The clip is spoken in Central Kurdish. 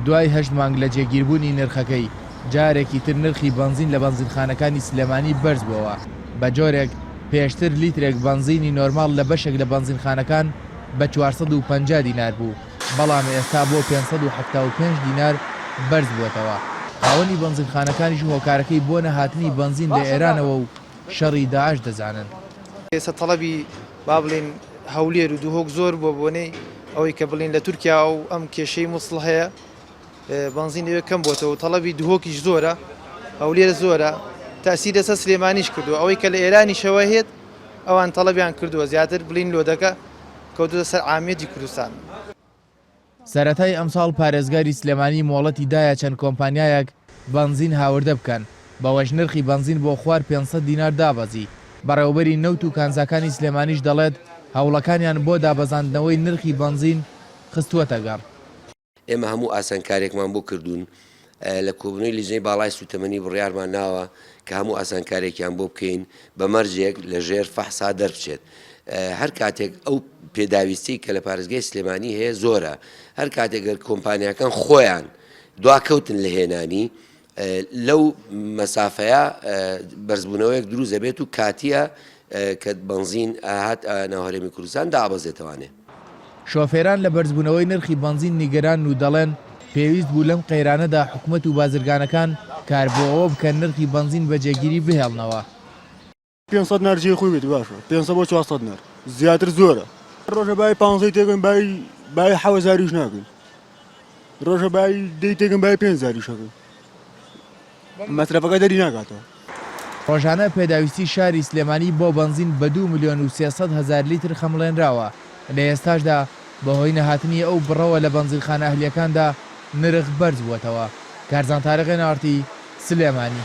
دوای هەشت مانگ لە جێگیربوونی نرخەکەی، جارێکی تر نرخی بەنزین لە بەنزینخانەکانی سلێمانی بەرزبووەوە، بەجۆرێک پێشتر لیترێک بەنزینی نۆرماڵ لە بەشێک لە بەنزینخانەکان بە چوار سەد و پەنجا دینار بوو، بەڵام ئێستا بۆ پێنج سەد و حەفتا و پێنج دینار بەرزبووەتەوە. خاوەنی بەنزینخانەکانیش هۆکارەکەی بۆ نەهاتنی بەنزین لە ئێرانەوە و شەڕی داعش دەزانن. ئێستا تەڵەبی با بڵێین هەولێر و دهۆک زۆر بۆ بۆنەی ئەوەی کە بڵین لە تورکیا و ئەم کێشەی مووسڵ هەیە بەنزین لەوێ کەم بۆتەوە تەڵەبی دهۆکیش زۆرە هەولێر زۆرە تاسی لەسە سلێمانیش کردو ئەوەی کە لە ئێرانیشەوە هێت ئەوان تەڵەبیان کردووە زیاتر بڵین لۆدەکە کەوتە سەر عامێتی کوردستان. سەرەتای ئەمساڵ پارێزگاری سلێمانی مۆڵەتی دایە چەند کۆمپانیایەک بەنزین هاوردە بکەن، بەوەش نرخی بەنزین بۆ خوار پێنج سەد دینار دابەزی، بەڕێوەبەری نەوت و کانزاکانی سلێمانیش دەڵێت، هەوڵەکانیان بۆ دابەزاندنەوەی نرخی بەنزین خستووەتەگەڕ. ئێمە هەموو ئاسانکارییەکمان بۆ کردوون لە کۆبوونەوەی لیژنەی باڵای سووتەمەنی بڕیارمان ناوە کە هەموو ئاسانکارێکیان بۆ بکەین بە مەرجێک لە ژێر فەحسا دەربچێت. هەر کاتێک ئەو پێداویستی کە لە پارێزگای سلێمانی هەیە زۆرە هەر کاتێک گەر کۆمپانیاکان خۆیان دواکەوتن لە هێنانی لەو مەسافەیە بەرزبوونەوەیەک دروست دەبێت و کاتیە کە بەنزین ئەهات ناو هەرێمی کوردستان دابەزێتەوانێ. شۆفێران لە بەرزبوونەوەی نرخی بەنزین نیگەرانن و دەڵێن، پێویست بوو لەم قەیرانەدا حکومەت و بازرگانەکان کار بۆ ئەوە بکەن نرخی بەنزین بە جێگیری بهێڵنەوە. پێنج سەد نەر جێی خۆی بێت باشە پێنج سەد بۆ چوار سەد نەر زیاتر زۆرە ڕۆژە بای پانزەی تێگەن بای بای حەوە زاریش ناکەین ڕۆژە بای دەی تێگەن بای پێنج زاریشەکەین مەسرەفەکە دەری ناکاتەوە. ڕۆژانە پێداویستی شاری سلێمانی بۆ بەنزین بە دوو ملیۆن و سێ سەد هەزار لیتر خەمڵێنراوە، لە ئێستاشدا بەهۆی نەهاتنی ئەو بڕەوە لە بەنزینخانە ئەهلییەکاندا نرخ بەرزبووەتەوە. کارزان تارق، ئێن ئاڕ تی، سلێمانی.